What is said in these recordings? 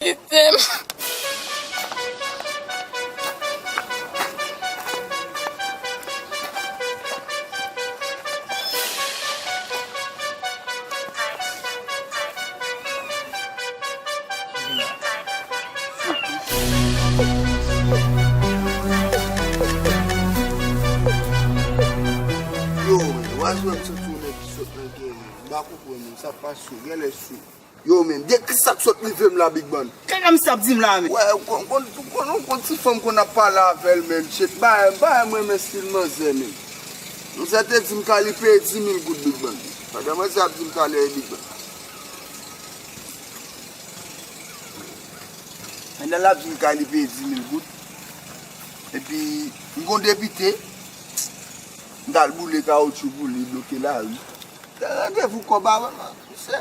Kitem. Yo, wazwèm se tounen ki sot nan genyen, m pa konprann, sa pa sou, genlè sou. Yow men, gen ki sak sot rive m la big man. Kaka misye ap dim la men. Wè ou konn ou konn ti fanm konn ap pale avèl menn shit bagay bagay m renmen stil manzè menn manzè te dim talè li peye 10000 goud big man bagay manzè ap dim talè wi big man. Pandan lap dim kay li peye 10000 goud epi m gon depite m tal boule kawoutchou pou li bloke lari. Gen randevou kòb avèm misye.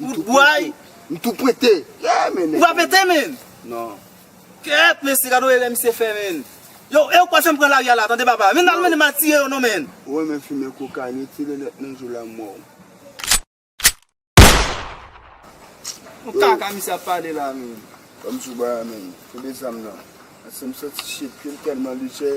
Wout bway. M tou pwente. Yeah men. Ou pa pwente men. Non. Kèèt mesye gad on erè misye fè men. Yow ew pa janm pran lari a la tande papa. Menn nan menn mal tire yo non menn. Ou renmen fimen kokayin yo tire nèt nan jou lanmòw. Bon kaka misye ap pale la menn. Banm sou bwa a menn. Kote zam nan. Asem santi shit kem telman lije.